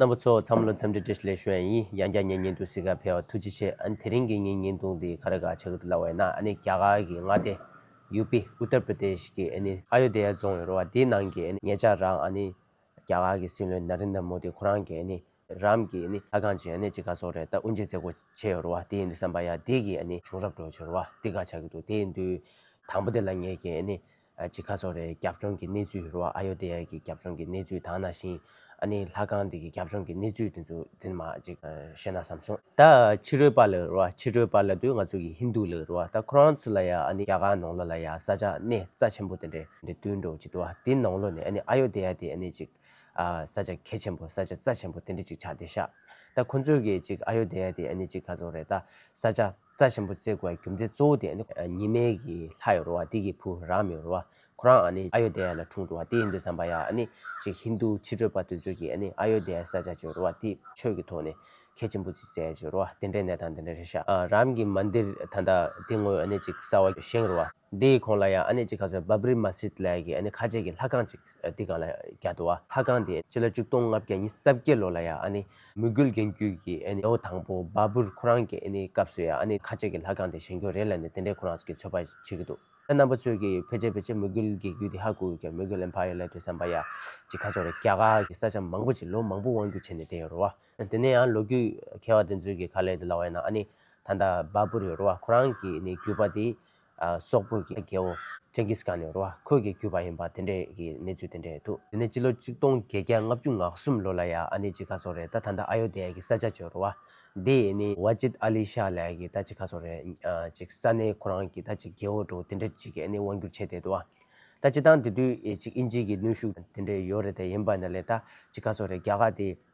རྣམ་པ་ཚོ་འཚམས་ལོ་འཚམས་འདྲི་བཀྲིས་ལེ་ཞུ་ཨན་ཡིན་ཡང་རྒྱ་ཉེ་ཉེ་འདུག་སི་ཁ་ཕེ་བ་ཐུགས་རྗེ་ཆེ་ཨན་དེ་རིང་གི་ཉིན་ཉིན་ཐུང་འདི་ག་རེ་ག་ཆག་གི་འདུག་ལ་བས་ན་ཨ་ནི་རྒྱ་གར་གི་མངའ་སྡེ། ཡུ་པི། Uttar Pradesh། གི་ཨ་ནི་ཨ་ཡོ་དེ་ཡ་རྫོང་ཡོད་རོ་བ་དེའི་ནང་གི་ཨ་ནི་ངེད་ཅག་རང་ཨ་ནི་རྒྱ་གར་གི་སྲིད་བློན་ན་རིན་དར་མོ་དི་ཁོ་རང་གི་ཨ་ནི་རམ་གི་ཨ་ནི་ལྷ་ཁང་ཅིག་ཨ་ནི་ཅི་ག་སོག་རེད་ད་དབུ་འབྱེད་མཛད་སྒོ་བྱེད་ཡོད་རོ་བ་དེ་ཡིན་དུས་སམ་པ་ཡ་དེ་གི་ཨ་ནི་བྱུང་རབས་བྲོ་བྱེད་རོ་བ་དེ་ག་ཆག་གི་འདུག་དེ་ཡིན་དུས་དང་པོ་དེ་ལ་ངེད་ཀྱི་ཨ་ནི་ཅི་ཁ་སོ་རའི་རྒྱབ་ལྗོངས་ཀྱི་གནས་ཚུལ་རུ་ཨ་ཡོ་དེ་ཡཱ་ཀྱི་རྒྱབ་ལྗོངས་ཀྱི་གནས་ཚུལ་དང་ན་ཤིང་ཨ་ནེ་ལྷ་ཁང་འདི་གི་རྒྱབ་ལྗོངས་ཀྱི་གནས་ཚུལ་དེ་ཚོ་དེ་ནི་མ་ཅིག་བཤད་ན་བསམ་སོང། ད་ཕྱི་རོལ་པ་ལ་རུ་ཨ་ཕྱི་རོལ་པ་ལ་དུས་ང་ཚོ་གི་ཧིན་དུ་ལ་རུ་ཨ་ད་ཁོ་རང་ཚོ་ལ་ཡ་ཨ་ནེ་རྒྱ་གར་ནང་ལོ་ལ་ཡ་ས་ཆ་གནས་རྩ་ཆེན་པོ་དེ་འདྲའི་འདི་དུས་འགྲོ་ཅི་དུ་ཨ་དེ་ནང་ལོ་ནས་ཨ་ནེ་ཨ་ཡོ་དེ་ཡཱ་དེ་ཨ་ནེ་ཅིག་ཨ་ས་ཆ་གལ་ཆེན་པོ་ས་ཆ་རྩ་ཆེན་པོ་དེ་འདྲ་ཅིག་ཆགས་དེ་ཤག་ད་ཁོ་ཚོས་གི་ཅིག་ཨ་ཡོ་དེ་ཡཱ་དེ་ཨ་ནེ་ཅིག་ཁ་སོང་རའི་ད་ས་ཆ། རྩ་ཆེན་པོ་བརྩེགས་དགུ་བའི་རྒྱུ་མཚན་གཙོ་བོ་དེ་ནི། ཉི་མའི་གི་ལྷ་ཡི་རོལ་བ་དེ་གི་བུ་རང་མི་རོལ་བ་ཁོ་རང་ནི་ཨ་ཡོ་དྷ་ཡ་ལ་འཁྲུངས་འགྲོ་བ་དེ་ཡིན་འདོད་བསམ་པ་ཡ་ནི་ཅིག་ཧིན་དྷུ་ཕྱི་བྲོས་པ་དེ་ཚོས་གི་ནི་ཨ་ཡོ་དྷ་ཡའི་ས་ཆ་ཆོས་རོལ་བ་དེ་ཆོས་ཀི་ཐོག་ནི་གལ་ཆེན་པོ་ཅིག་བཙལ་ཆོས་རོལ་བ་དེ་འདྲའི་གནས་དང་དེ་འདྲའི་ཤ་རམ་གི་མ་འདིར་ད་ལྟ་དེ་ངོས་ཨ་ནི་ཅིག་གསར་བ་བཞེངས་རོལ་བ་དེ་ཡི་ཁོང་ལ་ཡ་ཨ་ནི་ཅིག་ག་ཚོད་བྷ་བྷརི་མ་སིད་ལའི་གི་ནི་ཁ་ཆེ་གི་ལྷ་ཁང་ཅིག་དེ་གང་ལ་རྒྱ་དུ་བ་ལྷ་ཁང་དེ། སྤྱི་ལ་བཅུ་སྟོང་ལྔ་བརྒྱ་ཉི་རྩ་བརྒྱད་ལོ་ལ་ཡ་ཨ་ནི་མོས་གུས་རྒན་བརྒྱུད་ཀྱི་ལོ་དང་པོ་བ་བུར་ཁོ་རང་གི་སྐབས་སུ་ཡང་ཁ་ཆེ་གི་ལྷ་ཁང་དེ་བཞེངས་རྒྱུ་རེད་ལ་ནི་དེ་འདྲས་ཁོ་རང་གིས་ཚོད་དཔག་བྱེད་ཀྱི་འདུག་ད་རྣམ་པ་ཚོས་ཀྱི་ཕལ་ཆེར་ཕལ་ཆེར་མོས་གུས་རྒན་བརྒྱུད་དེ་ཧ་གོ་ཡོད་ཀྱང་མོས་གུས་ལེན་ཕ་ཡོད་ལད་དུ་བསམ་པ་ཡ་གཅིག་ཁ་ཚོགས་རེད་རྒྱ་གར་གྱི་ས་ཆ་མང་པོ་ཅིག་ལོ་མང་པོ་དབང་བསྒྱུར་བྱས་ནས་བསྡད་ཡོད་རུ་བ། དེ་ནས་ཡང་ལོ་རྒྱུས་མཁས་བ་དེ་ཚོའི་ཁ་ལས་དེ་ལ་བ་ཡིན་ན་ནི་ད་ལྟ་བ་བུར་ཡོད་རུ་བ་ཁོ་རང་གི་བརྒྱུད་པ་དེ་སོག་པོ་གི་རྒྱལ་པོ། Genghis Khan། ཡོར་བ་ཁོད་ཀྱིས་བརྒྱུད་པ་ཡིན་པ་དེ་འདྲའི་གི་གནས་ཚུལ་དེ་འདྲའི་འདུག་དེ་ནས་སྤྱི་ལོ་གཅིག་སྟོང་བརྒྱད་བརྒྱ་ལྔ་བཅུ་ང་གསུམ་ལོ་ལ་ཡ་ཨ་ནི་ཅི་ག་སོག་རེད་ད་ད་ནྡ་ཨ་ཡོ་དྷེ་ཡ་གི་ས་ཆ་ཇོ་རུ་བ་དེ་ཡི་ནི Wajid Ali Shah ལ་ཡ་གི་ད་ཅི་ག་སོག་རེད་ཅིག་ས་ནི་ཁོ་རང་གི་ད་ཅིག་རྒྱལ་བོ་འདུག་དེ་འདྲ་ཅིག་གི་ཨ་ནི་དབང་བསྒྱུར་བྱས་དེ་འདུག་བ་ད་ཅི་ད་དང་དེ་དུས་ཡེ་ཅིག་ཨིན་ཇི་གི་ནུས་ཤུགས་དེ་འདྲའི་ཡོ་རེད་དེ་ཡིན་པ་ནི་ལས་ད་ཅི་ག་སོག་རེད་རྒྱ་ག་དེ་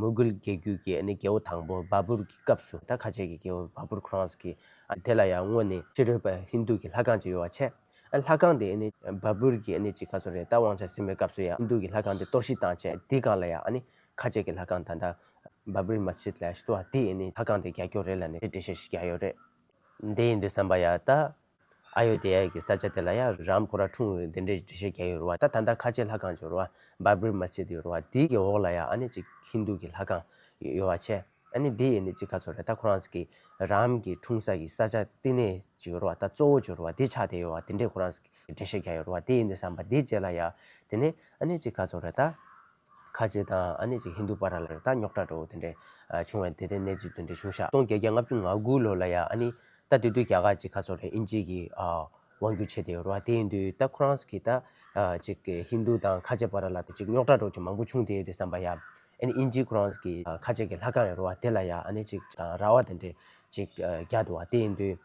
མུ་གུལ་རྒྱལ་རྒྱུད་ཀྱི་རྒྱལ་བོ་དང་པོ་བཱ་པུར་གྱི་སྐབས་སུ་ད་ཁ་ཆེ་གི་རྒྱལ་བོ་བཱ་པུར་ཁྲོན་ས་ཀི། དེ་ལ་ཡང་སྔོན་ནི་ཕྱི་རོལ་པ་ཧིན་རྡུ་གྱི་ལྷ་ཁང་ཅིག་ཡོད་བ་ཆེ། ལྷ་ཁང་དེ་བཱ་པུར་གྱི་གཅིག་ག་ཚོད་རེད་ད་དབང་ཆ་སིམ་པའི་སྐབས་སུ་ཡང་ཧིན་རྡུ་གྱི་ལྷ་ཁང་དེ་གཏོར་བཤིག་བཏང་རྗེས་དེའི་སྒང་ལ་ཡང་ཁ་ཆེ་གི་ལྷ་ཁང་ད་ལྟ་བཱ་པུར་མ་ཆིད་ལ་ཞི་ཏུ་བ་དེའི་ལྷ་ཁང་དེ་རྒྱ་ཁྱོ་རེ་ལ་ནས་རེ་འབྲི་ཤེས་ཤིག་རྒྱ་ཡོད་རེད། འདི་ཡིན་དུ་བསམ་པ་ཡ་ད་ཨཱ་ཡོ་དྷི་ཡཱ་ཡི་ས་ཆ་དེ་ལ་ཡང་རཱམ་ཕུ་རཱ་འཁྲུངས་འོས་དེ་འདྲའི་འགྲེལ་བཤད་རྒྱག་ཡོད་རུང་བ་ད་ད་ལྟ་ཁ་ཆེ་ལྷ་ཁང་བྱོ་རུང་བ་འབར་བིར་མ་སི་ཏི་ཡོད་རུང་བ་དེའི་གི་འོག་ལ་ཡང་ཨཱ་ནི་གཅིག་ཧིན་དྷུ་གི་ལྷ་ཁང་ཡོད་བ་ཆེ་ཨཱ་ནི་དེ་ཡི་ནི་གཅིག་ཁ་ཚོ་རེད་ད་ཁོ་རང་ས་གི་རཱམ་གི་འཁྲུངས་ས་གི་ས་ཆ་བསྟི་གནས་བྱོ་རུང་བ་ད་གཙོ་བོ་བྱོ་རུང་བ་དེ་ཆགས་དེ་ཡོད་བ་དེ་འདྲའི་ཁོ་རང་ས་གི་འགྲེལ་བཤད་རྒྱག་ཡོད་རུང་བ་དེ་ཡི་ནི་བསམ་པ་དེའི་རྗེས་ལ་ཡང་དེ་ནི་ཨཱ་ནི་གཅིག་ཁ་ཚོ་རེད་ད། ཁ་ཆེ་དང་ཨཱ་ནི་གཅིག་ཧིན་དྷུ་པཱ་ར་ལ་རེད་ད་རྙོག་དྲ་འདྲ་བོ་དེ་འདྲའི་བྱུང་བ་དེ་ལྟའི་གནས་ཚུལ་དོན་འདྲ་བྱུང་ཤག་སྟོང་བརྒྱད་བརྒྱ་ལྔ་བཅུ་ང་དགུ་ལོ་ལ་ཡང་ཨཱ་ནི་ད་དེ་དུས་རྒྱ་གར་གྱི་ཁ་སོ་རེ་ཨིན་ཇིའི་གི་དབང་བསྒྱུར་བྱས་ཏེ་ཡོད་རོ་ཨ་དེའི་དུས་ད་ཁོ་རང་གི་ད་ཅིག་གི་ཧིན་དུ་དང་ཁ་ཆེ་བ་ར་ལ་ད་ཅིག་རྙོག་དྲ་འགྲོ་ཅིག་མང་པོ་བྱུང་དེ་ཡོད་དེ་བསམ་པ་ཡ། ཨ་ནི་ཨིན་ཇིའི་ཁོ་རང་གི་ཁ་ཆེ་གི་ལྷ་ཁང་ཡོད་རོ་ཨ་དེ་ལ་ཡ་ཨ་ནི་ཅིག་དང་ར་བ་དེ་འདྲེ་ཅིག་རྒྱ་དུ་ཨ་དེའི་དུས་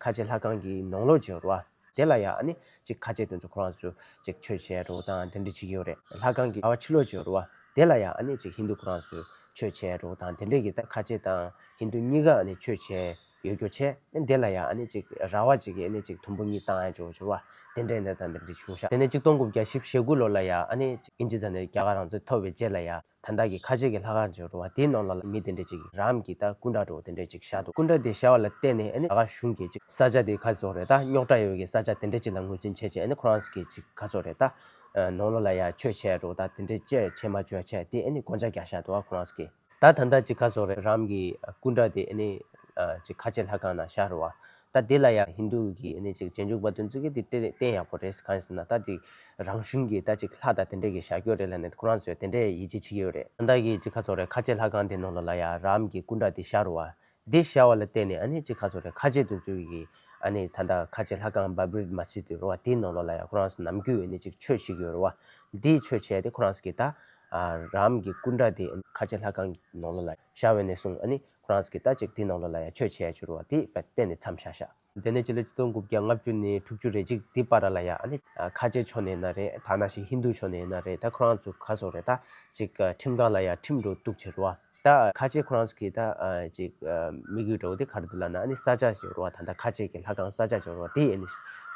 ཁ་ཆེ་ལྷ་ཁང་གི་ནོངས་ལོག་བྱས་ཡོད་རོ་ཨ། དེ་ལ་ཡང་ནི་ཅིག་ཁ་ཆེ་དོན་གཙོ་ཁོ་རང་ཚོས་ཅིག་ཆོས་བྱེད་རོགས་དང་དེ་འདྲ་བྱེད་ཀྱི་ཡོད་རེད་ལྷ་ཁང་གི་ལྭ་བ་ཕྱི་ལོགས་ཀྱི་རུ་བ་དེ་ལ་ཡང་ནི་ཅིག་ཧིན་རྡུ་ཁོ་རང་ཚོས་ཆོས་བྱེད་རོགས་དང་དེ་འདྲ་གྱི་ད་ཁ་ཆེ་དང་ཧིན་རྡུ་གཉིས་ཀ་ནི་ཆོས་བྱེད་ཡོད་རྒྱུ་ཆེ་དེ་ལ་ཡང་ནི་ཅིག་ར་བ་ཅིག་གིས་ནི་ཅིག་དུམ་བུ་གཉིས་བཏང་ཡང་ཅོག་ཅོག་བ་དེ་འདྲས་འདྲ་དང་དེ་འདྲས་བྱུང་ཤག་དེ་ནས་ཅིག་སྟོང་དགུ་བརྒྱ་ཞིབ་ཞེ་དགུ་ལོ་ལ་ཡང་ནི་ཨིན་ཇི་ཚ་ནས་རྒྱ་གར་རང་ཚོད་ཐོབ་བའི་རྗེས་ལ་ཡང། དང་བདག་གི་ཁ་ཆེ་གི་ལྷ་ཁང་ཅིག་རུ་བ་དེའི་ནང་ལ་ལ་མི་དེ་འདྲས་ཅིག་རམ་གྱིས་ད་སྐུ་འདྲ་གྲོགས་དེ་འདྲས་ཅིག་བཞག་འདུག་སྐུ་འདྲ་དེ་བཞག་བ་ལ་བལྟས་ནས་ད་ག་གཞུང་གྱིས་ཅིག་ས་ཆ་དེ་ག་ཚོད་རེད་ད་རྙོག་དྲ་ཡོད་གི་ས་ཆ་དེ་འདྲས་ཅིག་ལ་ངོས་འཛིན་བྱས་ཅིག་ཁོ་རང་གིས་ཅིག་ག་ཚོད་རེད་ད། ནང་ལོག་ལ་ཡ་ཆོས་བྱས་འགྲོ་ད་དེ་འདྲས་ཅེས་བྱས་མ་བྱོས་བྱས་དེ་དགོངས་འཇགས་རྒྱག་བཞག་འདུག་ཁོ་རང་གིས། ད་ད་ལྟ་ཅིག་ག་ཚོད་རེད་རམ་གྱིས་སྐུ་འདྲ་དེ་ཅིག་ཁ་ཆེ་ལྷ་ཁང་ནང་བཞག་རུ་བ་ད་དེ་ལ་ཡང་ཧིན་རྡུ་གི་ཨ་ནི་ཅིག་རྗེས་འཇུག་པ་དོན་བརྩི་གི་དེ་དེ་བསྟན་ཡག་པོ་རེད་གང་ཡིན་ཟེར་ན་ད་ཅིག་རང་གཞུང་གི་ད་ཅིག་ལྷ་དང་དེ་འདྲས་ཀྱི་ཞག་སྐྱོ་རེད་ལ་ནི་ཁོ་རང་ཚོས་དེ་འདྲས་ཡིད་ཆེས་བྱེད་ཀྱི་ཡོད་རེད། བདག་གིས་ཅིག་ཁ་ཚོགས་རེད་ཁ་ཆེ་ལྷ་ཁང་དེ་ནང་ལ་ལ་ཡ་རམ་གྱི་སྐུ་འདྲ་དེ་ཤར་བ། དེ་ཤར་བ་ལ་བརྟེན་ནས་ཨ་ནི་ཅིག་ཁ་ཚོགས་རེད་ཁ་ཆེ་དོན་བརྩི་གི་ཨ་ནི་ད་ལྟ་ཁ་ཆེ་ལྷ་ཁང་བྷ་བྷིར་མ་སི་དེ་རུ་བ་དེའི་ནང་ལ་ལ་ཡ་ཁོ་རང་ཚོ་ནམ་རྒྱུན་ཨ་ནི་ཅིག་ཆོས་བྱེད་ཀྱི་ཡོད་རུ་བ། དེ་ཆོས་བྱས་ཏེ་ཁོ་རང་ཚོ་གི་ད་ཡ་རམ་གྱི་སྐུ་འདྲ་དེ་ཨ་ནི་ཁ་ཆེ་ལྷ་ཁང་གི་ནང་ལ་ལ་ཡ་ཤར་བས་ནས་བཟུང་ཨ་ནི་ཁོ་རང་ཚོ་གི་ལྟ་ཅིག་དེའི་ནང་ལོ་ལ་ཡང་ཆོས་བྱེད་ཡ་བྱུ་རུ་བ་དེ་བས་གཏན་ནས་མཚམས་བཞག་བཞག། དེ་ནས་སྤྱི་ལོ་སྟོང་དགུ་བརྒྱ་ལྔ་བཅུ་ནས་དྲུག་ཅུ་རེ་ཅིག་དེའི་བར་ར་ལ་ཡ་ཨ་ནི་ཁ་ཆེ་ཕྱོགས་ནས་ཡིན་ན་རེད་ད་ན་ཞིག་ཧིན་རྡུ་ཕྱོགས་ནས་ཡིན་ན་རེད་ད་ཁོ་རང་ཚོ་ག་སོག་རེད་ད་ཅིག་ཁྲིམས་ཁང་ལ་ཡ་ཁྲིམས་འགྲོ་གཏུག་བྱེད་རུ་བ་ད་ཁ་ཆེ་ཁོ་རང་ཚོ་གི་ད་ཅིག་མི་དགོས་འགྲོ་དེ་ག་རུ་འདུག་ལ་ན་ཨ་ནི་ས་ཆ་བྱེད་རུ་བ་ད་ད་ཁ་ཆེ་གི་ལྷ་ཁང་ས་ཆ་བྱེད་རུ་བ་དེ་ཨ་ནི་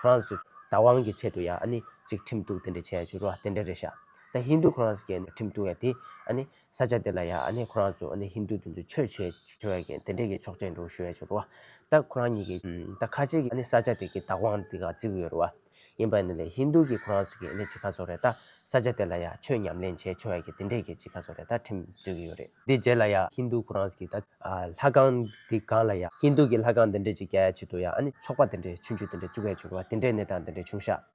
ཁོ་རང་ཚོ་བདག་དབང་གི་ཆེད་དུ་ཡ་ཨ་ནི་ཅིག་ཁྲིམས་གཏུག་དེ་འདྲ་བྱེད་ཡ་བྱུ་རུ་བ་དེ་འདྲ་རེད་བཞག་ད་ཧིན་རྡུ་ཁོ་རང་ཚོ་གི་ཡ་ནི་ཁྲིམས་གཏུག་ཡ་དེ་ཨ་ནི་ས་ཆ་དེ་ལ་ཡང་ཁོ་རང་ཚོ་ཧིན་རྡུ་དེ་ཚོ་ཆོས་བྱེད་ཆོག་ཡ་གན་དེ་འདྲས་ཀྱི་ཆོག་ཆེན་འགྲོ་ཞུ་ཡ་ཆུག་རུ་བ་ད་ཁོ་རང་གཉིས་ཀྱིས་ད་ཁ་ཆེ་གི་ས་ཆ་དེ་གི་བདག་དབང་དེ་ག་བརྩི་གི་ཡོད་རུ་བ་ཡིན་པ་ནི་ལས་ཧིན་རྡུ་གི་ཁོ་རང་ཚོ་གི་ཅི་ཁ་ཚོགས་རེད་ད་ས་ཆ་དེ་ལ་ཡང་ཆོས་ཉམས་ལེན་བྱས་ཆོག་ཡ་གན་དེ་འདྲས་ཀྱི་ཅི་ཁ་ཚོགས་རེད་ད་ཁྲིམས་རྩོད་གི་ཡོད་རེད་དེ་རྗེས་ལ་ཡང་ཧིན་རྡུ་ཁོ་རང་ཚོ་གི་ད་ལྷ་ཁང་དེ་གང་ལ་ཡང་ཧིན་རྡུ་གི་ལྷ་ཁང་དེ་འདྲས་ཅིག་རྒྱ་ཡ་ཆེ་དུ་ཡང་ཚོགས་པ་དེ་འདྲས་ཆུང་ཆུང་དེ་འདྲས་བཙུགས་ཡ་ཆུག་རུ་བ་དེ་འདྲས་ནས་དང་དེ་འདྲས་ཆུང་ཤག།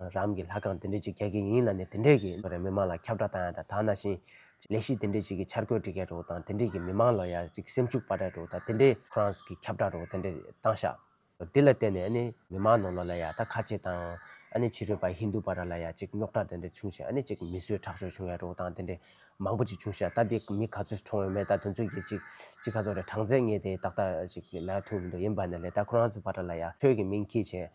རང་གི་ལྷ་ཁང་དེ་འདྲས་ཅིག་རྒྱག་གི་ཡིན་ལ་ནི་དེ་འདྲས་ཀྱི་རེ་མི་མང་ལ་ཁྱབ་བསྒྲགས་བཏང་ཡ་ད་དག་ན་བཞིན་ལས་གཞི་དེ་འདྲས་ཅིག་གི་འཆར་འགོད་འབྲི་མཁན་རེ་བོ་དང་དེ་འདྲས་ཀྱི་མི་མང་ལ་ཡ་ཅིག་སེམས་ཤུགས་སྤར་གྲས་རེ་བོ་དང་དེ་འདྲས་ཁོ་རང་གི་ཁྱབ་བསྒྲགས་རེ་བོ་དེ་འདྲས་བཏང་ཤག་དེ་ལ་བརྟེན་ནས་ནི་མི་མང་ནང་ལ་ལ་ཡ་ད་ཁ་ཆེ་དང་ནི་ཕྱི་རོལ་པ་ཧིན་དུ་པ་ར་ལ་ཡ་ཅིག་རྙོག་དྲ་དེ་འདྲས་བྱུང་ཞེ་ནི་ཅིག་མི་གསོད་ཁྲག་སྦྱོར་བྱུང་ཡ་རེ་བོ་དང་དེ་འདྲས་མང་པོ་ཅིག་བྱུང་ཤག་ད་དེ་མི་ག་ཚོད་གྲོངས་ཡོད་མེད་ད་དོན་ཚོད་ཀྱི་ཅིག་ཅིག་ག་ཚོད་རེ་གྲངས་ཚད་ངས་དེ་ད་ལྟ་ཅིག་ལ་ཐུག་མི་འདུག་ཡིན་པ་ནི་ལས་ད་ཁོ་རང་ཚོའི་པ་ར་ལ་ཡ་ཁྱོད་ཀྱི་མིང་གིས་བྱས།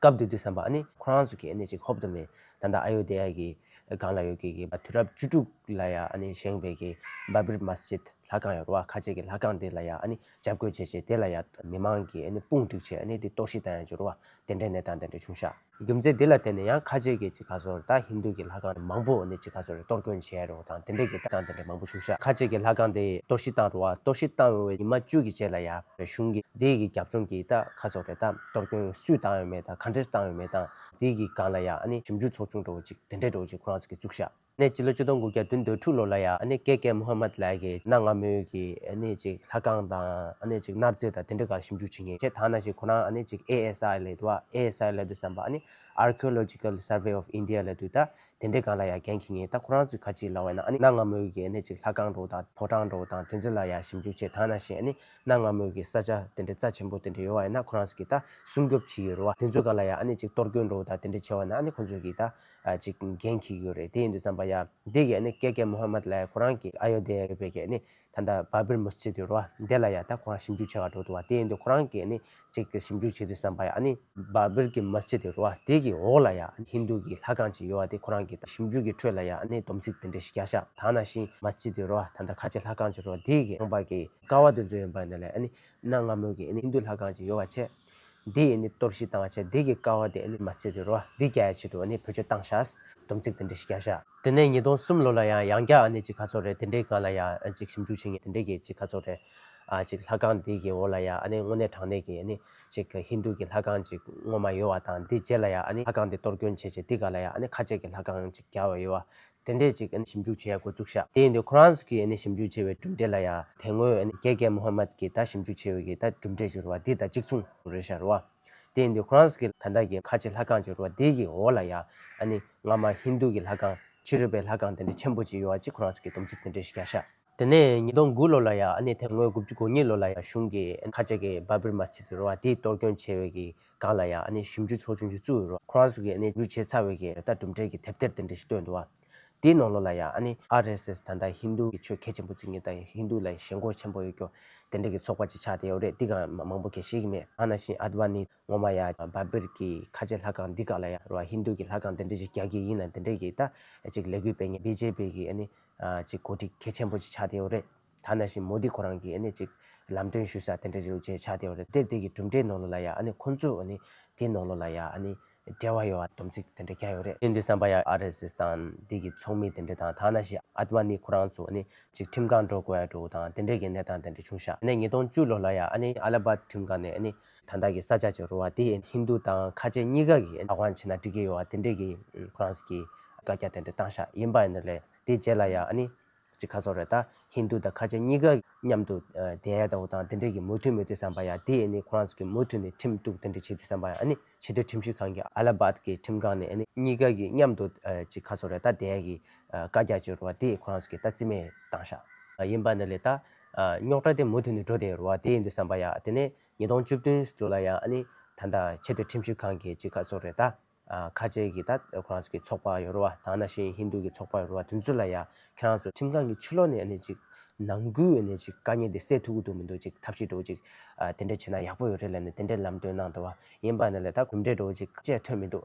སྐབས་འདིར་དུས་བསམ་པ་ནི་ཁོ་རང་ཚོ་གི་གནས་གཅིག་ཧོབ་ཏོ་མའི་ད་ལྟ་ཨ་ཡོ་དྷེ་ཡ་གི་སྒང་ལ་ཡོད་ཀྱི་དུས་རབས་བཅུ་དྲུག་ལ་ཡ་ཨ་ནི་བཞེངས་པའི་གི་བཱ་བིར་མཱ་སི་ཇིད་ལྷ་ཁང་ཡོད་བ་ཁ་ཆེ་གི་ལྷ་ཁང་དེ་ལ་ཡ་ཨ་ནི་འཇབ་རྒོལ་བྱེད་ཆེད་དེ་ལ་ཡ་མི་མང་གི་ཨ་ནི་དཔུང་བསྒྲིགས་ཆེད་ཨ་ནི་དེ་གཏོར་བཤིག་བཏང་ཡང་འགྱུར་བ་དེ་འདྲའི་གནས་སྟངས་དེ་འདྲ་བྱུང་ཤག། རྒྱུ་མཚན་དེ་ལ་བརྟེན་ནས་ཡང་ཁ་ཆེ་གི་གཅིག་ཁ་སོར་ད་ཧིན་དྷུ་གི་ལྷ་ཁང་མང་པོ་ཨ་ནི་གཅིག་ཁ་སོར་རེ་གཏོར་བསྐོན་བྱས་ཡ་རུང་བ་དང་དེ་འདྲའི་གི་གཏམ་དེ་འདྲ་མང་པོ་བྱུང་ཤག་ཁ་ཆེ་གི་ལྷ་ཁང་དེ་གཏོར་བཤིག་བཏང་རུང་བ་གཏོར་བཤིག་བཏང་རུང་བའི་ཉི་མ་བཅུ་གི་རྗེས་ལ་ཡ་ཧྥེ་གཞུང་གི་དེའི་གི་རྒྱབ་ལྗོངས་གི་ད་ཁ་སོར་རེ་ད། གཏོར་སྐྱོན་སུས་བཏང་ཡོད་མེད་དང་ག་འདྲེར་བཏང་ཡོད་མེད་དང། དེ་གི་སྒང་ལ་ཡང་ཨ་ནི་ཞིབ་འཇུག་ཚོགས་ཆུང་གྲོགས་ཅིག་དེ་འདྲས་གྲོགས་ཅིག་ཁོ་རང་ཚོ་གི་བཙུགས་ཤག་ནས་སྤྱི་ལོ་བཅུ་སྟོང་དགུ་བརྒྱ་དུན་དོད་དྲུག་ལོ་ལ་ཡང་ཨ་ནི་ཀེ་ཀེ་མུ་ཧམ་མད་ལགས་ཀྱིས་གནའ་སྔ་མོའི་གི་ཨ་ནི་ཅིག་ལྷ་ཁང་དང་ཨ་ནི་ཅིག་སྣར་རྩེ་དང་དེ་འདྲས་གང་ཞིབ་འཇུག་བྱེད་ངེས་ཁྱེད་ཐང་ན་ཞིག་ཁོ་རང་ཨ་ནི་ཅིག་ཨེ་ཨེ་སཱ་ཨེ་ལེ་དུ་ཨ་ཨེ་ཨེ་སཱ་ཨེ་ལེ་དུ་བསམ་པ་ཨ་ནི Archaeological Survey of India ལེ་དུ་ད་དེ་འདྲས་གང་ལ་ཡང་གན་ཁྱེད་ངེས་ད་ཁོ་རང་ཚོ་ག་ཅིག་ལ་བས་ན་ཨ་ནི་གནའ་སྔ་མོའི་གི་ཨ་ནི་ཅིག་ལྷ་ཁང་གྲོགས་དང་ཕོ་བྲང་གྲོགས་དང་དེ་ཚོ་ལ་ཡང་ཞིབ་འཇུག་བྱེད་ཐང་ན་ཞིག་ཨ་ནི་གནའ་སྔ་མོའི་གི་ས་ཆ་དེ་འདྲའི་རྩ་ཆེན་པོ་དེ་འདྲ་ཡོད་བ་ཡིན་ན་ཁོ་རང་གིས་ད་སྲུང་སྐྱོབ་བྱེད་ཀྱི་རུ་བ་དེ་ཚོའི་ག་ལ་ཡ་ཨ་ནི་ཅིག་གཏོར་རྒོལ་འགྲོ་བ་དང་དེ་འདྲ་བྱེད་བ་ན་ཨ་ནི་ཁོ་ཚོས་གིས་ད་ཅིག་འགན་འཁྱེར་གྱི་ཡོད་རེད་དེ་ཡིན་དུས་བསམ་པ་ཡ་འདི་གི་ཨ་ནི་སྐད་ཀའི་མུ་ཧམ་མད་ལ་ཡ་ཁོ་རང་གིས་ཨ་ཡོ་དྷེ་ཡ་ཡོད་པའི་གི་ཨ་ནི་ད་ལྟ་བཱ་བིར་མུས་ཚིག་གི་རུ་བ་དེ་ལ་ཡ་ད་ཁོ་རང་ཞིབ་འཇུག་བྱེད་ག་འགྲོ་འདུག་བ་དེ་ཡིན་དུས་ཁོ་རང་གིས་ཨ་ནི་ཅིག་གི་ཞིབ་འཇུག་བྱེད་དུས་བསམ་པ་ཡ་ཨ་ནི་བཱ་བིར་གི་མུས་ཚིག་གི་རུ་བ་དེ་གི་འོག་ལ་ཡ་ཨ་ནི་ཧིན་དུ་གི་ལྷ་ཁང་ཅིག་ཡོད་བ་དེ་ཁོ་རང་གིས་ད་ཞིབ་འཇུག་གི་ཁྲོད་ལ་ཡ་ཨ་ནི་སྡོམ་ཚིག་དེ་འདྲ་ཞིག་རྒྱག་ཤག་ད་ནང་བཞིན་མུས་ཚིག་གི་རུ་བ་ད་ད་ཁ་ཆེ་ལྷ་ཁང་ཅིག་རུ་བ་དེ་གི་ནང་པ་གི་དགའ་བ་དེ་ཚོ་ཡིན་པ་འདི་ལས་གནའ་སྔ་མོ་གི་ཧིན་དུ་ལྷ་གང་ཅི་ཡོད་བ་ཆེ་འདི་ཡི་གཏོར་བཤིག་བཏང་བ་ཆེ་འདི་གི་དཀའ་བ་དེ་མ་ཚེ་འདི་རོ་འདི་རྒྱ་ཡའི་ཆེད་དུ་བུ་ཆོས་བཏང་ཤག་སྡོམ་ཚིག་དེ་འདྲ་ཞིག་རྒྱག་ཤག། དེ་ནས་ཉིས་སྟོང་གསུམ་ལོ་ལ་ཡང་ཡང་བསྐྱར་ཅིག་ཁ་ཚོར་རེད་དེ་འདྲའི་སྒང་ལ་ཡང་ཅིག་ཞིབ་འཇུག་བྱེད་ངེས་དེ་འདྲའི་གི་ཅིག་ཁ་ཚོར་རེད་ཅིག་ལྷ་གང་འདི་གི་འོག་ལ་ཡང་དངོས་གནས་དྲང་གནས་གི་ཅིག་ཧིན་དུ་གི་ལྷ་གང་ཅིག་ངོ་མ་ཡོད་བ་དང་འདི་རྗེས་ལ་ཡང་ལྷ་གང་འདི་གཏོར་སྐྱོན་བྱེད་ཆེད་འདི་ག་ལ་ཡང་ཁ་ཆད་གི་ལྷ་གང་ཅིག་རྒྱག་བ་ཡོད་བ་དེ་འདྲས་ཅིག་ཞིབ་འཇུག་བྱེད་ཡག་དགོས་ཚུགས་ཤག་དེ་ཡིན་ཁོ་རང་ཚོ་གིས་ཞིབ་འཇུག་བྱས་པའི་གྲུབ་འབྲས་ལ་ཡང་དེ་སྔོན་རྒྱལ་རྒྱལ་མུ་ཧ་མཱད་ཀྱིས་ད་ཞིབ་འཇུག་བྱས་ཡོད་ཀྱི་ད་གྲུབ་འབྲས་འབྱོར་བ་འདི་དང་གཅིག་མཚུངས་རེད་ཤར་བ། དེ་ཡིན་དུས་ཁོ་རང་ཚོ་གིས་ད་ལྟ་གི་ཁ་ཆེ་ལྷ་ཁང་འབྱོར་བ་འདི་གི་འོག་ལ་ཡང་ང་མ་ཧིན་རྡུ་གི་ལྷ་ཁང་ཕྱི་རོལ་པའི་ལྷ་ཁང་དེ་འདྲས་ཆེན་པོ་ཅིག་ཡོད་ཅེས་ཁོ་རང་ཚོ་གིས་སྡོམ་ཚིག་དེ་འདྲས་ཤིག་རྒྱག་ཤག། དེ་ནས་ཉིས་སྟོང་དགུ་ལོ་ལ་ཡང་ཨ་ནེ་དེ་སྔོན་དགུ་བཅུ་གོ་གཉིས་ལོ་ལ་ཡང་གཞུང་གི་ཁ་ལྕགས་ཀྱི་སྦ་བེར་མ་ཚིག་གི་རུ་བ་དེའི་གཏོར་སྐྱོན་ཆེ་བའི་གི་སྒང་ལ་ཡང་ཨ་ནེ་ཞིབ་འཇུག་ཚོགས་ཆུང་ཞིག་བཙུགས་ཡོད་རུང་ཁོ་རང་ཚོ་གིས་ཨ་ནེ་འཇུ་བྱེད་ཚར་བའི་གི་རེ་ལྟ་གྲུབ་འབྲས་ཀྱི་དེབ་ཐེར་དེ་འདྲ་ཞིག་བཏོན་འདུག་བ། དེའི་ནང་ལོ་ལ་ཡང་ཨ་ནེ RSS ད་ལྟ་ཧིན་དུ་གི་ཆོས་གལ་ཆེན་པོ་བརྩི་ངེས་དང་ཧིན་དུ་ལ་ཞེན་ཁོག་ཆེན་པོ་ཡོད་སྐྱོ་དེ་འདྲ་གི་ཚོགས་པ་ཅིག་ཆགས་བསྡད་ཡོད་རེད་འདི་གང་མང་པོ་གལ་ཤེས་གི་མེད་ཨ་ན་ཤིན་ཨ་དབ་ནི་ངོ་མ་ཡང་སྦ་བེར་གི་ཁ་ལྕེ་ལྷ་ཁང་འདི་གང་ལ་ཡང་རུ་བ་ཧིན་དུ་གི་ལྷ་ཁང་དེ་འདྲ་ཞིག་རྒྱག་གི་ཡིན་ན་དེ་འདྲའི་གི་རྟ་ཅིག་ལས་གུས་པས་ངས་བེ་ཇེ་པི་གི་ཨ་ནེ་ཅིག་གོ་སྒྲིག་གལ་ཆེན་པོ་ཅིག་ཆགས་བསྡད་ཡོད་རེད། ཐ་ན་བཞིན་མོ་དི་ཁོ་རང་གིས་ཨ་ནི་ཅིག་ལམ་སྟོན་ཞུ་ས་དེ་འདྲ་རེད་འདུག་ཅེས་ཆགས་བསྡད་ཡོད་རེད་དེར་དེ་གི་གྲུབ་འབྲས་ནོར་ལོ་ལ་ཡང་ཨ་ནི་ཁོང་ཚོས་ཨ་ནི་དེའི་ནོར་ལོ་ལ་ཡང་ཨ་ནི་འབྲེལ་བ་ཡོད་སྡོམ་ཚིག་དེ་འདྲ་རྒྱག་ཡོད་རེད། དེ་འདྲའི་བསམ་པ་ཡང་ཨར་ཨེས་ཨེས་དང་དེ་གི་ཚོགས་མི་དེ་འདྲ་དང་ཐ་ན་བཞིན་ཨར་བྷ་ནི་ཁོ་རང་ཚོས་ཨ་ནི་ཅིག་ཁྲིམས་ཁང་འགྲོ་དགོས་ཡ་འགྲོ་དང་དེ་འདྲའི་གི་གནས་སྟངས་དེ་འདྲ་བྱུང་ཤག་ཨ་ནི་ཉིས་སྟོང་བཅུ་ལོ་ལ་ཡང་ཨ་ནི་ཨ་ལ་བྷ་ཁྲིམས་ཁང་ནས་ཨ་ནི་དང་བདག་གི་ས་ཆ་ཆེ་རུ་བ་དེ་ཧིན་རྡུ་དང་ཁ་ཆེ་གཉིས་ཀ་གི་བདག་དབང་བྱས་ན་འགྲིག་གི་ཡོད་དེ་འདྲས་ཀྱི་ཁོ་རང་གིས་བཀའ་རྒྱ་དེ་འདྲས་བཏང་ཤག་ཡིན་པ་ནི་ལས་དེ་རྗེས་ལ་ཡང་ཨ་ནི་ཅི་ཁ་སོ་རེད་ད་ཧིན་རྡུ་དང་ཁ་ཆེ་གཉིས་ཀ་མཉམ་དུ་དེ་ཨ་དང་དང་དེ་འདྲས་ཀྱི་མུ་མཐུད་མི་དུས་བསམ་པ་ཡང་དེ་ཨ་ནི་ཁོ་རང་གིས་མུ་མཐུད་ནས་ཁྲིམས་གཏུག་དེ་འདྲས་བྱེད་དུས་བསམ་པ་ཡང་ཨ་ནི་ཕྱི་སྡོད་ཁྲིམས་ཞིབ་ཁང་གི་ཨ་ལ་བྷད་ཀྱི་ཁྲིམས་ཁང་ནས་ཨ་ནི་གཉིས་ཀ་གི་མཉམ་དུ་ཅི་ཁ་སོ་རེད་ད་དེ་ཨ་གིས་བཀའ་རྒྱ་ཆེ་རུ་བ་དེ་ཁོ་རང་གིས་ད་རྩིས་མེད་བཏང་ཤག་ཡིན་པ་ནི་ལས་ད། རྙོག་དྲ་དེ་མུ་མཐུད་ནས་འགྲོ་བསྡད་རུང་བ་དེ་ཡིན་འདུག་བསམ་པ་ཡ་དེ་ནས་ཉིས་སྟོང་བཅུ་བདུན་ཟུར་ལ་ཡང་ཨ་ནི་ད་ལྟ་ཆེས་མཐོའི་ཁྲིམས་ཞིབ་ཁང་གི་ཅིག་ཁ་གསོ་རེད་ད། ཁ་ཆེ་གི་ད་ཁོ་རང་ཚོ་གི་ཚོགས་པ་ཡོད་རུང་བ་དང་ན་ཤིན་ཧིན་དུ་གི་ཚོགས་པ་ཡོད་རུང་བ་དུས་ཚོད་ལ་ཡ་ཁྱེད་རང་ཚོ་ཁྲིམས་ཁང་གི་ཕྱི་ལོག་ནས་ཨ་ནི་ཅིག་ནང་ཁུལ་ཨ་ནི་ཅིག་དཀའ་ཉེ་དེ་སེལ་ཐུབ་གི་འདུག་མི་འདུག་ཅིག་ཐབས་ཤེས་འགྲོ་ཅིག་དེ་འདྲ་བྱེད་ན་ཡག་པོ་ཡོད་རེད་ལ་ནི་དེ་འདྲའི་ལམ་སྟོན་གནང་འདུག་བ་ཡིན་པ་ནི་ལ་ད་གོམས་འདྲིས་འགྲོ་ཅིག་ཁ་ཆེ་ཐོན་མི་འདུག།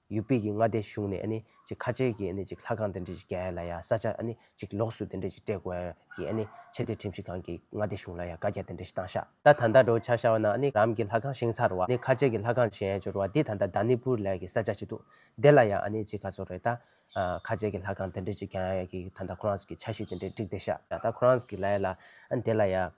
ཡུལ་དཔལ་གྱི་མངའ་སྡེ་གཞུང་ནས་ནི་ཅིག་ཁ་ཆེ་གི་ནི་ཅིག་ལྷ་ཁང་དེ་འདྲས་ཅིག་རྒྱལ་ལ་ཡ་ས་ཆ་ནི་ཅིག་ལོགས་སུ་དེ་འདྲས་ཅིག་སྤྲད་དགོས་ཡ་གི་ནི་ཆེ་དེ་ཁྲིམས་ཞིག་གང་གི་མངའ་སྡེ་གཞུང་ལ་ཡ་བཀའ་རྒྱ་དེ་འདྲས་ཞིག་བཏང་ཤག། ད་ད་ལྟ་འགྲོ་བྱ་ཤ་བ་ན་ནི་རང་གི་ལྷ་ཁང་བཞེངས་ཚར་བ་ནི་ཁ་ཆེ་གི་ལྷ་ཁང་བཞེངས་འབྱོར་བ་འདི་ད་ད་ད་ནི་པུར་ལས་གི་ས་ཆ་ཅིག་འདུག་དེ་ལ་ཡ་ནི་ཅིག་ག་ཚོད་རེད་ད། ཁ་ཆེ་གི་ལྷ་ཁང་དེ་འདྲས་ཅིག་བརྒྱང་ཡ་གི་ད་ད་ཁོ་རང་ཚོ་གི་ཆ་ཤིག་དེ་འདྲས་བསྒྲིགས་ཏེ་ཤག་ད་ད་ཁོ་རང་ཚོ་གི་ལ་ཡ་ལ། དེ་ལ་ཡ།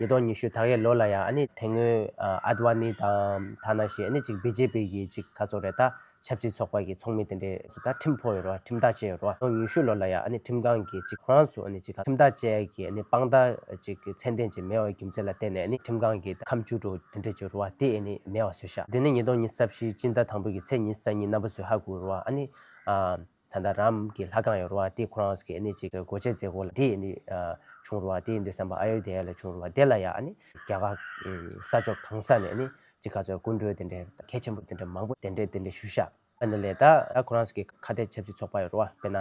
ཉིས་སྟོང་ཉི་ཤུ་ད་ཡའི་ལོ་ལ་ཡང་ཨ་ནི་དེ་སྔོན་ཨ་དབ་ཨ་ནི་དང་ཐ་ན་ཞེས་ཨ་ནི་གཅིག་བྷི་ཇེ་པི་གི་གཅིག་ཁ་སོ་རེ་ད་ཆབ་སྲིད་ཚོགས་པ་གི་ཚོགས་མི་དེ་འདྲས་སུ་ད་ཁྲིམས་ཕོག་ཡོད་རོ་ཁྲིམས་ཐག་བཅད་ཡོད་རོ་སྟོང་ཉི་ཤུ་ལོ་ལ་ཡང་ཨ་ནི་ཁྲིམས་ཁང་གི་གཅིག་ཁོ་རང་ཚོ་ཨ་ནི་གཅིག་ཁྲིམས་ཐག་བཅད་གི་ཨ་ནི་དཔང་རྟགས་གཅིག་ཚད་ལྡན་གཅིག་མེད་བའི་རྒྱུ་མཚན་ལ་བརྟེན་ནས་ཨ་ནི་ཁྲིམས་ཁང་གི་ད་ཁམས་བཅུ་དྲུག་དེ་འདྲས་བཅུ་རུ་བ་དེ་ཨ་ནི་མེད་བ་བཟོས་ཤག་དེ་ནི་ཉིས་སྟོང་ཉི་ས་བཞི་སྤྱི་ཟླ་དང་པོ་གི་ཚེས་ཉི་ས་ཉིན་གནའ་བོ་ཚོས་ཧ་གོ་རུ་བ་ཨ་ནི་ཨ། ད་ལྟ་རམ་གྱི་ལྷ་ཁང་ཡོད་རུང་བ་དེ་ཁོ་རང་གི་ནི་གཅིག་གོ་ཆའི་རྫས་གོ་ལ་དེ་ནི་བྱུང་རུང་བ་དེ་འདི་བསམ་པ་ཨ་ཡོ་དྷེ་ཡ་ལས་བྱུང་རུང་བ་དེ་ལ་ཡང་ནི་རྒྱ་གར་ས་ཕྱོགས་གང་ས་ནས་ནི་ཅི་ག་ཚོད་སྐུ་མགྲོན་དེ་འདྲའི་གལ་ཆེན་པོ་དེ་འདྲའི་མང་པོ་དེ་འདྲའི་དེ་འདྲའི་ཞུ་ཤག་འདི་ལས་ད་ལྟ་ཁོ་རང་གི་ཁ་གཏད་ཆབ་སྲིད་ཚོགས་པ་ཡོད་རུང་བ་དཔེར་ན་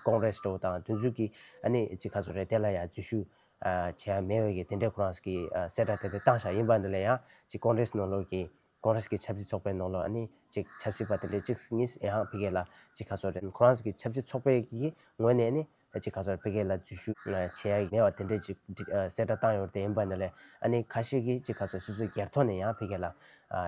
ཀོང་རེ་སི་དང་དུས་མཚུངས་ཀྱི་ཨ་ནི་ཅི་ག་ཚོད་རེད་དེ་ལ་ཡང་འཛུལ་ཞུགས་བྱས་ཡ་མེད་འོས་ཀྱི་དེ་འདྲའི་ཁོ་རང་གི་གསལ་བསྒྲགས་དེ་འདྲ་བཏང་ཤག་ཡིན་པ་འདི་ལས་ཡང་ཅིག་ཀོང་རེ་སི་ནང་ལོགས་ཀྱི་ཁོ་རང་གི་ཆབ་སྲིད་ཚོགས་པའི་ནང་ལ་ནི་གཅིག་ཆབ་སྲིད་པ་དེ་འདྲས་གཅིག་གཉིས་ཡང་ཧང་ཕི་གེ་ལ་གཅིག་ཁ་སོ་རེ་ཁོ་རང་གི་ཆབ་སྲིད་ཚོགས་པའི་གི་ངོས་ནས་ནི་གཅིག་ཁ་སོ་རེ་ཕི་གེ་ལ་འཛུལ་ཞུགས་བྱེད་ཡ་མེད་པ་དེ་འདྲས་གཅིག་གསལ་བསྒྲགས་བཏང་ཡོད་དེ་ཡིན་པ་ནི་ལས་ཨ་ནི་ཁ་ཤས་ཀྱིས་གཅིག་ཁ་སོ་སོ་སོའི་སྒེར་ཐོག་ནས་ཡང་ཕི་གེ་ལ་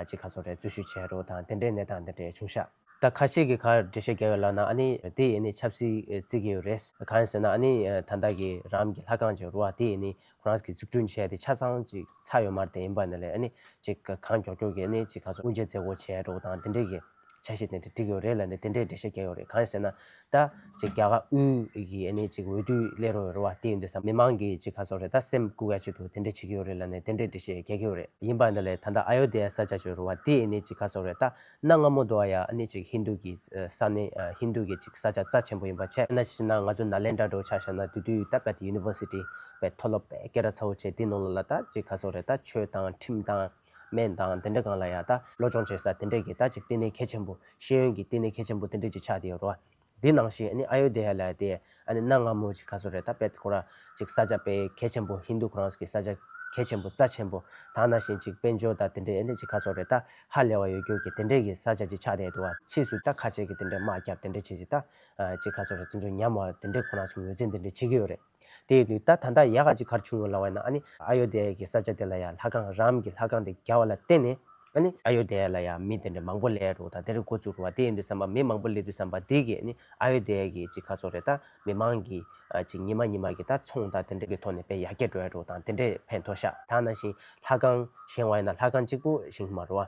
གཅིག་ཁ་སོ་རེ་འཛུལ་ཞུགས་བྱས་རོགས་དང་དེ་འདྲས་གནས་སྟངས་དེ་འདྲས་བྱུང་ཤག། ད་ཁ་ཤས་ཀྱིས་གར་འགྲེལ་བཤད་རྒྱག་ཡོད་ལབ་ན་ཨ་ནི་དེ་ཡིས་ནི་ཆབ་སྲིད་བརྩི་གི་ཡོད་རེད་གང་ཡིན་ཟེར་ན་ཨ་ནི་ད་ལྟ་གི་རང་གི་ལྷ་ཁང་གི་རུ་བ་དེ་ཡིས་ནི་ཁོ་རང་གིས་འཛུགས་སྐྲུན་བྱས་ཏེ་ཆ་ཚང་གཅིག་ཚ་ཡོད་མར་དེ་ཡིན་པ་ནི་ལས་གནས་གཅིག་གི་གང་མགྱོགས་མགྱོགས་ཀྱི་གནས་གཅིག་ག་ཚོད་དབུ་འབྱེད་མཛད་སྒོ་བྱས་འགྲོ་དང་དེ་འབྲེལ་གྱི་ཆ་ཤས་དེ་འདྲ་བསྒྲིགས་ཡོད་རེད་ལ་ནི་དེ་འདྲའི་འགྲེལ་བཤད་བརྒྱབ་ཡོད་རེད་གང་ཡིན་ཟེར་ན་ད་གཅིག་རྒྱ་གར་དབུས་ཀྱི་གནས་གཅིག་འོས་བསྡུའི་སླད་རོགས་ཡོད་རེད་བ་དེ་ཡིན་དུས་སམ་མི་མང་གིས་གཅིག་ག་ཚོད་རེད་ད་སེམས་བཀུག་ཡ་གཅིག་ཏུ་དེ་འདྲས་བྱེད་ཀྱི་ཡོད་རེད་ལ་ནི་དེ་འདྲའི་འགྲེལ་བཤད་བརྒྱག་གི་ཡོད་རེད་ཡིན་པ་ནི་ལས་ད་ལྟ་ཨ་ཡོ་དྷེ་ཡ་ས་བཅའ་བྱོས་རོགས་བ་དེ་གནས་གཅིག་ག་ཚོད་རེད་ད་གནའ་སྔ་མོ་དུའང་ཡང་ཨནི་ཅིག་ཧིན་དུ་གི་ས་ནི་ཧིན་དུ་གི་ཅིག་ས་ཆ་རྩ་ཆེན་པོ་ཡིན་པ་ཆད་ཨ་ན་ཅི་ཅི་ན་ང་ཚོ་ན་ལེནྡྲ་འགྲོ་ཆ་ཤ་ན་དུས་དུས་ད་པད University པའི་མཐོ་སློབ་པས་སྐད་ར་ཚ་བོ་བྱས་དེ་ནང་ལ་ལ་ད་ཅིག་ཁ་སོག་རེ་ད་ཆོས་དང་ཁྲིམས་དང་སྨན་དང་དེ་འདྲ་གང་ལ་ཡང་ད་བློ་སྦྱོང་བྱེད་ས་དེ་འདྲས་ཀྱི་ད་ཅིག་བསྟི་གནས་གལ་ཆེན་པོ་ཤེས་ཡོན་གྱི་བསྟི་གནས་གལ་ཆེན་པོ་དེ་འདྲས་ཀྱི་ཆ་དེ་ཡོ་རོ་ཨ། འདི་ནང་བཞིན་ཨཱ་ཡོ་དྷེ་ཡཱ་ལ་དེ་གནའ་སྔ་མོ་ཅིག་ག་སོ་རེད་ད་དཔལ་ཁོ་ར་ཅིག་ས་ཆ་དཔེ་གལ་ཆེན་པོ་ཧིན་དུ་ཁོ་རང་གི་ས་ཆ་གལ་ཆེན་པོ་རྩ་ཆེན་པོ་དང་ནང་བཞིན་ཅིག་དཔལ་འབྱོར་དང་དེ་འདྲའི་ཨེ་འདྲ་ཅིག་ག་སོ་རེད་ད་ཧ་ལས་བ་ཡོད་རྒྱུ་གི་དེ་འདྲའི་གི་ས་ཆ་ཅིག་ཆགས་བསྡད་འདུག་བ་ཕྱིས་སུ་ད་ཁ་ཆེ་གི་དེ་འདྲའི་དམག་རྒྱབ་དེ་འདྲ་བྱེད་ཅིག་ད་ཅིག་ག་སོ་རེད་དེ་འདྲའི་ཉམས་བ་དེ་འདྲའི་ཁོ་རང་ཚོ་ངོས་འཛིན་དེ་འདྲ་བྱེད་ཀྱི་ཡོད་རེད། དེ་ནི་ད་ད་ནྟ་ཡ་ག་ཅིག་གར་བྱུང་ཡོད་ལ་བས་ན་ཨ་ནི་ཨ་ཡོ་དྷེ་ཡ་ཀྱི་ས་ཆ་དེ་ལ་ཡང་ལྷ་ཁང་རམ་གྱི་ལྷ་ཁང་དེ་བརྒྱ་བ་ལ་བརྟེན་ནས་ཨ་ནི་ཨ་ཡོ་དྷེ་ཡ་ལ་ཡང་མི་དེ་འདྲ་མང་པོ་ལས་རོ་དང་དེ་རིང་འགོ་བཙུགས་རོ་བ་དེ་ཡིན་དུས་བསམ་པ་མི་མང་པོ་ལས་དུས་བསམ་པ་དེ་གས་ནི་ཨ་ཡོ་དྷེ་ཡ་ཀྱི་ཅིག་ཁ་སོ་རེ་ད་མི་མང་གི་ཅིག་ཉི་མ་ཉི་མ་གི་ད་ཚོང་ད་དེ་འདྲ་གི་ཐོག་ནས་པའི་ཡ་གྱ་འགྲོ་ཡ་རོ་དང་དེ་འདྲས་ཕན་ཐོག་ཤ། ད་ན་བཞིན་ལྷ་ཁང་བཞེང་བ་ཡིན་ན་ལྷ་ཁང་གཅིག་པོ་བཞེང་གི་མ་རོ་བ།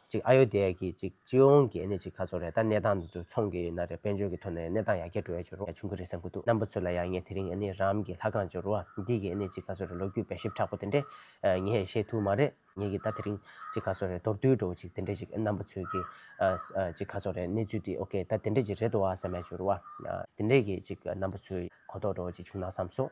གཅིག་ཨ་ཡོ་དྷི་ཡ་གིས་གཅིག་སྤྱི་ཡོངས་ཀྱི་ནི་གཅིག་ཁ་ཚོར་རེད་ད་གནས་སྟངས་འདི་ཚོ་མཚུངས་ཀྱི་ཡོད་ན་རེད་དཔལ་འབྱོར་གྱི་ཐོག་ནས་གནས་སྟངས་ཡར་རྒྱས་འགྲོ་ཡ་ཆུ་རུ་ཡ་ཆུང་གི་རེད་བསམ་གྱི་འདུག་རྣམ་པ་ཚོས་ལ་ཡང་ངས་དེ་རིང་ནི་རང་གི་ལྷ་ཁང་ཆུ་རུ་འདི་གི་ནི་གཅིག་ཁ་ཚོར་རེད་ལོ་རྒྱུས་དཔེ་ཞིབ་དྲག་པོ་དེ་འདྲས་ངས་ཤེས་ཐུབ་མ་རེད་ངས་ཀྱི་ད་དེ་རིང་གཅིག་ཁ་ཚོར་རེད་མདོར་བསྡུས་འགྲོ་བ་གཅིག་དེ་འདྲས་ཅིག་རྣམ་པ་ཚོས་ཀྱི་གཅིག་ཁ་ཚོར་རེད་གནས་ཚུལ་འདི་ཨོ་ཀེ་ད་དེ་འདྲས་ཅིག་རེད་དོ་བ་བསམ་ཡ་ཆུ་རུ་བ་དེ་འདྲས་ཀྱི་གཅིག་རྣམ་པ་ཚོས་གོ་རྟོགས་འགྲོ་བ་ཅིག་བྱུང་ན་བསམ་སོང།